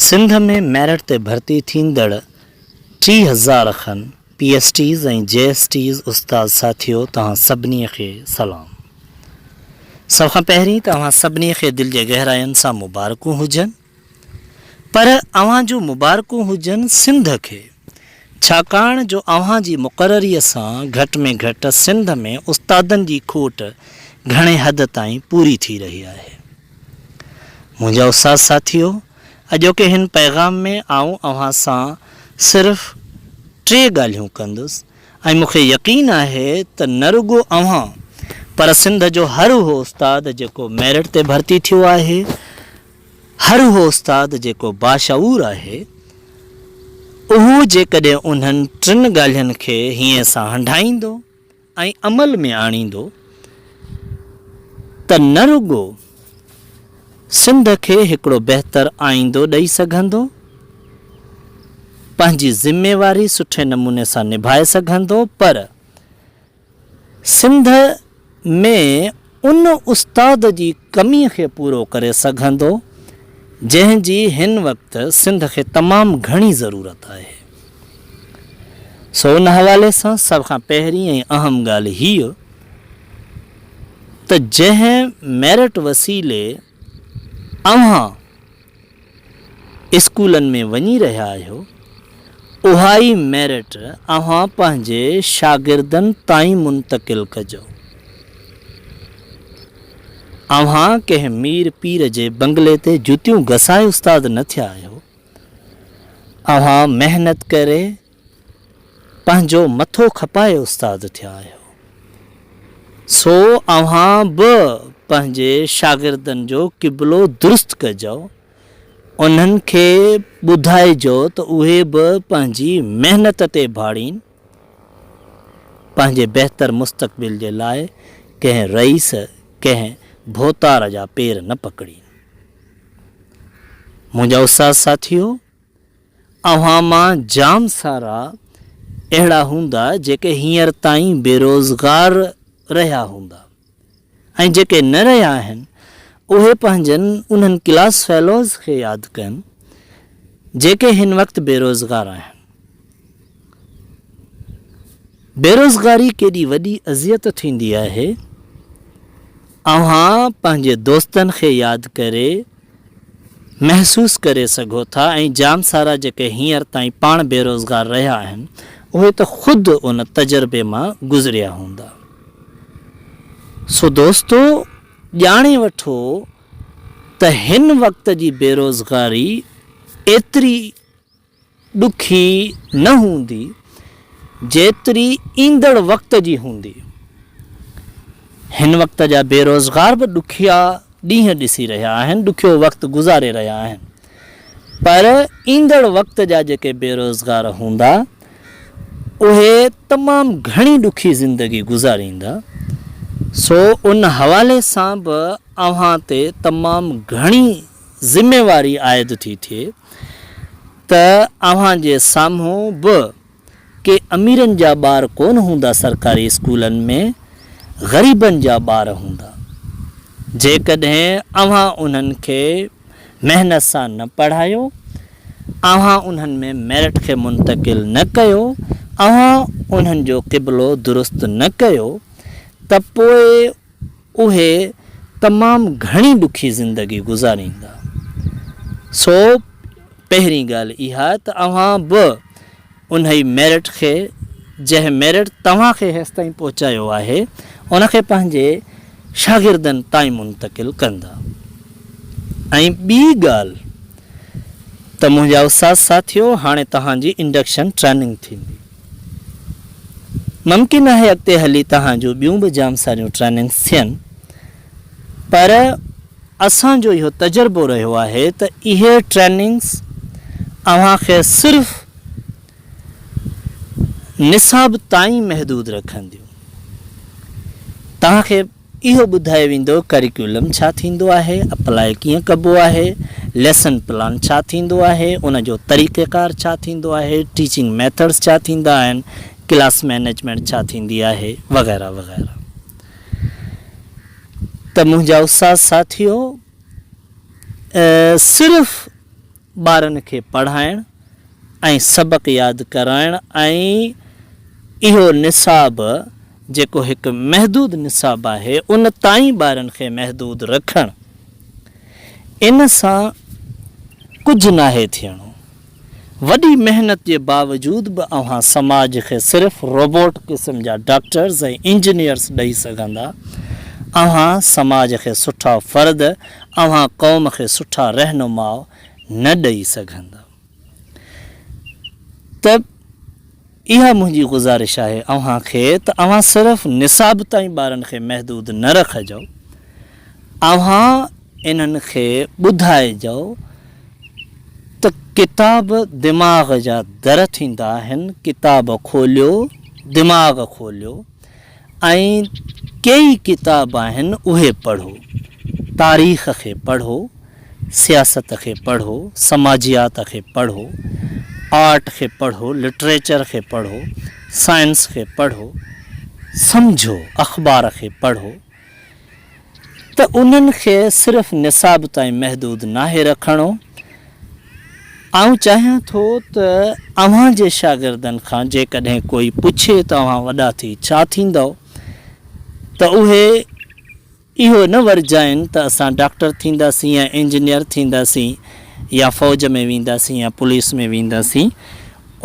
Sindh ۾ merit تي ڀرتي ٿيندڙ ٽي هزار کن P S Ts ۽ J S Ts استاد ساٿيو توهان سڀني کي سلام. سڀ کان پهرين ته اوهان سڀني کي دل جي گهراين سان مبارڪون هجن ۽ پر اوهان جون مبارڪون هجن سنڌ کي، ڇاڪاڻ جو اوهان جي مقرريء سان گهٽ ۾ گهٽ سنڌ ۾ استادن جي کوٽ گهڻي حد تائين پوري ٿي رهي آهي. منهنجا استاد ساٿيو، اڄوڪي هن پيغام ۾ آئون اوهان سان صرف ٽي ڳالهيون ڪندس ۽ مون کي يقين آهي ته نه رڳو اوهان پر سنڌ جو هر اهو استاد جيڪو ميرٽ تي ڀرتي ٿيو آهي، هر اهو استاد جيڪو باشعور آهي، اهو جيڪڏهن انهن ٽن ڳالهين کي هيئن سان هنڍائيندو ۽ عمل ۾ آڻيندو ته نه رڳو سنڌ کي هڪڙو بهتر آئيندو ڏئي سگهندو، پنهنجي ذميواري سٺي نموني سان نڀائي سگهندو پر. سنڌ ۾ ان استاد جي ڪمي کي پورو ڪري سگهندو، جنهن جي هن وقت سنڌ کي تمام گهڻي ضرورت آهي. سو ان حوالي سان سڀ کان پهرين ۽ اهم ڳالهه هيء ته جنهن ميرٽ وسيلي، اوهان اسڪولن ۾ وڃي رهيا آهيو، اها ئي ميرٽ اوهان پنهنجي شاگردن تائين منتقل ڪجو. اوهان ڪنهن مير پير جي بنگلي تي جوتيون گسائي استاد نه ٿيا آهيو. اوهان محنت ڪري پنهنجو مٿو کپائي استاد ٿيا آهيو، سو اوهان به پنهنجي شاگردن جو قبلو درست ڪجو، انهن کي ٻڌائجو ته اهي به پنهنجي محنت تي ڀاڙين، پنهنجي بهتر مستقبل جي لاء ڪنهن رئيس، ڪنهن ڀوتار جا پير نه پڪڙين. منهنجا استاد ساٿيو! اوهان مان جام سارا اهڙا هوندا جيڪي هينئر تائين بيروزگار رهيا هوندا ۽ جيڪي نه رهيا آهن اهي پنهنجن انهن ڪلاس فيلوز کي ياد ڪن جيڪي هن وقت بيروزگار آهن. بيروزگاري ڪيڏي وڏي اذيت ٿيندي آهي. اوهان پنهنجي دوستن کي ياد ڪري محسوس ڪري سگهو ٿا ۽ جام سارا جيڪي هينئر تائين پاڻ بيروزگار رهيا آهن اهي ته خود ان تجربي مان گذريا هوندا. سو دوستو ڄاڻي وٺو ته هن وقت جي بيروزگاري ايتري. ڏکي نه هوندي جيتري ايندڙ وقت جي هوندي. هن وقت جا بيروزگار به ڏکيا ڏينهن ڏسي رهيا آهن، ڏکيو وقت گذاري رهيا آهن پر ايندڙ وقت جا جيڪي بيروزگار هوندا اهي تمام گهڻي ڏکي زندگي گذاريندا سو ان حوالي سان به اوهان تي تمام گهڻي ذميواري عائد ٿي ٿئي ته اوهان جي سامهون به ڪي اميرن جا ٻار ڪونه هوندا سرڪاري اسڪولن ۾ غريبن جا ٻار هوندا جيڪڏهن اوهان انهن کي محنت سان نه پڙهايو اوهان انهن ۾ ميرٽ کي منتقل نه ڪيو اوهان انهن جو قبلو درست نه ڪيو ته پوء اهي تمام گهڻي ڏکي زندگي گذاريندا. سو پهرين ڳالهه اها ته اوهان به انهي ميرٽ کي جنهن ميرٽ توهان کي هيستائين پهچايو آهي ان کي پنهنجي شاگردن تائين منتقل ڪندا ۽ ٻي ڳالهه ته منهنجا استاد ساٿيو هاڻي توهان جي انڊڪشن ٽريننگ ٿيندي. ممڪن آهي اڳتي هلي توهان جون ٻيون به جام ساريون ٽريننگز ٿين پر اسان جو اهو تجربو رهيو آهي ته اهي ٽريننگز اوهان کي صرف نصاب تائين محدود رکنديون توهان کي اهو ٻڌايو ويندو ڪريڪيولم ڇا ٿيندو آهي، اپلاء ڪيئن ڪبو آهي، ليسن پلان ڇا ٿيندو آهي، ان جو طريقيڪار ڇا ٿيندو آهي، ٽيچنگ ميٿڊز ڇا ٿيندا آهن، ڪلاس مينيجمينٽ ڇا ٿيندي آهي وغيره وغيره ته منهنجا استاد ساٿيو صرف ٻارن کي پڙهائڻ ۽ ۽ سبق ياد ڪرائڻ ۽ اهو نصاب جيڪو هڪ محدود نصاب آهي ان تائين ٻارن کي محدود رکڻ ان سان ڪجهه ناهي ٿيڻو وڏي محنت جي باوجود به اوهان سماج کي صرف روبوٽ قسم جا ڊاڪٽرز ۽ انجنيئرز ڏئي سگهندا اوهان سماج کي سٺا فرد اوهان قوم کي سٺا رهنماء نه ڏئي سگهندم ته اها منهنجي گذارش آهي اوهان کي ته اوهان صرف نصاب تائين ٻارن کي محدود نه رکجو اوهان انهن کي ٻڌائجو ته ڪتاب دماغ جا در ٿيندا آهن ڪتاب کوليو دماغ کوليو ۽ ڪيئي ڪتاب آهن اهي پڙهو، تاريخ کي پڙهو، سياست کي پڙهو، سماجيات کي پڙهو، آرٽ کي پڙهو، لٽريچر کي پڙهو، سائنس کي پڙهو، سمجهو، اخبار کي پڙهو. ته انهن کي صرف نصاب تائين محدود ناهي رکڻو، آئون چاهيان ٿو ته اوهان جي شاگردن کان جيڪڏهن ڪوئي پڇي ته اوهان وڏا ٿي ڇا ٿيندؤ؟ ته اهي اهو نه ورجائين ته اسان ڊاڪٽر ٿينداسين يا انجنيئر ٿينداسين يا فوج ۾ وينداسين يا پوليس ۾ وينداسين،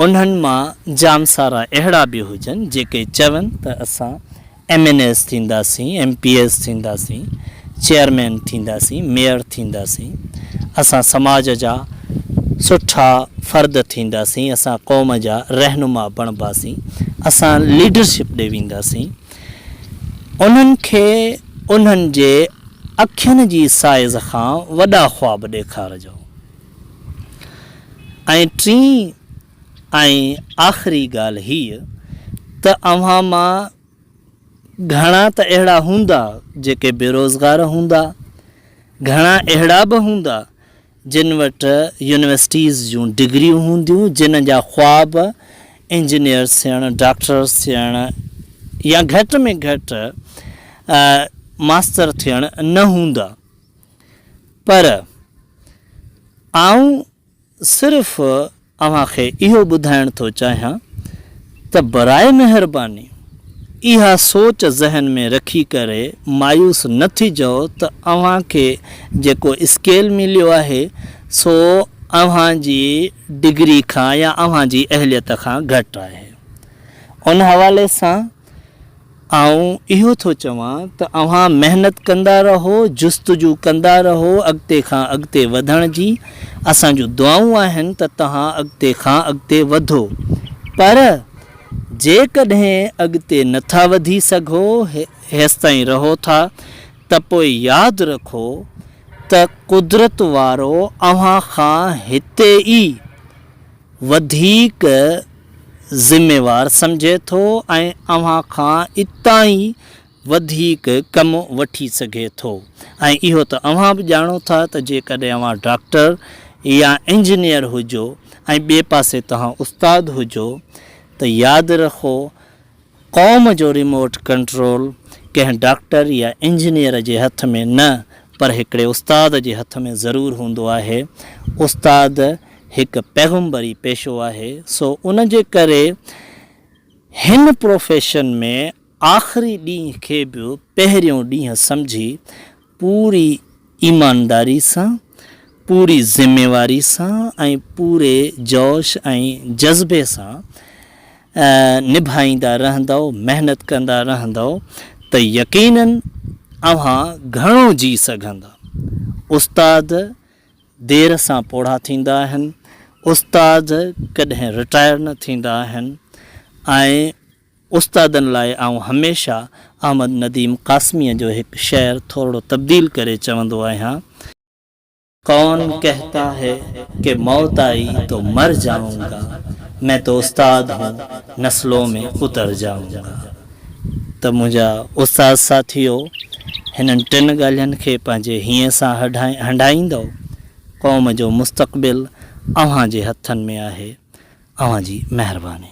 انهن مان جام سارا اهڙا به هجن جيڪي چون ته اسان ايم اين ايز ٿينداسين، ايم پي ايز ٿينداسين، چيئرمين ٿينداسين، ميئر ٿينداسين، اسان سماج جا سٺا فرد ٿينداسين، اسان قوم جا رهنما بڻباسين، اسان ليڊرشپ ڏي وينداسين، انهن کي انهن جي اکين جي سائيز کان وڏا خواب ڏيکارجو ۽ ٽين ۽ آخري ڳالهه هيء ته اوهان مان گهڻا ته اهڙا هوندا جيڪي بيروزگار هوندا، گهڻا اهڙا به هوندا جن وٽ يونيورسٽيز جون ڊگريون هونديون جن جا خواب انجنيئرس ٿيڻ، ڊاڪٽرس ٿيڻ يا گهٽ ۾ گهٽ ماستر ٿيڻ نه هوندا پر آئون صرف اوهان کي اهو ٻڌائڻ ٿو چاهيان ته برائي مهرباني اها سوچ ذهن ۾ رکي ڪري مايوس نه ٿجئو ته اوهان کي جيڪو اسڪيل مليو آهي سو اوهان جي ڊگري کان يا اوهان جي اهليت کان گهٽ آهي ان حوالي سان آئون اهو ٿو چوان ته اوهان محنت ڪندا رهو، جستجو ڪندا رهو اڳتي کان اڳتي وڌڻ جي، اسان جون دعائون آهن ته توهان اڳتي کان اڳتي وڌو، پر جيڪڏهن اڳتي نٿا وڌي سگهو، هيستائين رهو ٿا ته پوء ياد رکو ته قدرت وارو اوهان کان هتي ئي وڌيڪ ذميوار سمجهي ٿو ۽ اوهان کان اتان ئي وڌيڪ ڪم وٺي سگهي ٿو ۽ اهو ته اوهان به ڄاڻو ٿا ته جيڪڏهن اوهان ڊاڪٽر يا انجنيئر هجو ۽ ٻئي پاسي توهان استاد هجو ته ياد رکو قوم جو ريموٽ ڪنٽرول ڪنهن ڊاڪٽر يا انجنيئر جي هٿ ۾ نه پر هڪڙي استاد جي هٿ ۾ ضرور هوندو آهي. استاد هڪ پيغمبري پيشو آهي سو ان جي ڪري هن پروفيشن ۾ آخري ڏينهن کي به پهريون ڏينهن سمجهي پوري ايمانداري سان، پوري ذميواري سان ۽ پوري جوش ۽ جذبي سان نڀائيندا رهندؤ، محنت ڪندا رهندؤ ته يقينن اوهان گهڻو جي سگهندا. استاد دير سان پوڙها ٿيندا آهن، استاد ڪڏهن رٽائر نه ٿيندا آهن ۽ استادن لاء آئون هميشه احمد نديم قاسميء جو هڪ شعر ٿورڙو تبديل ڪري چوندو آهيان. ڪون ڪهتا هي ڪي موت آئي تو مر جائون گا، مين تو استاد هون نسلون ۾ اتر جائون گا. ته منهنجا استاد ساٿيو هنن ٽن ڳالهين کي پنهنجي هينء سان هنڍائيندؤ. قوم جو مستقبل اوهان جي هٿن ۾ آهي. اوهان جي مهرباني.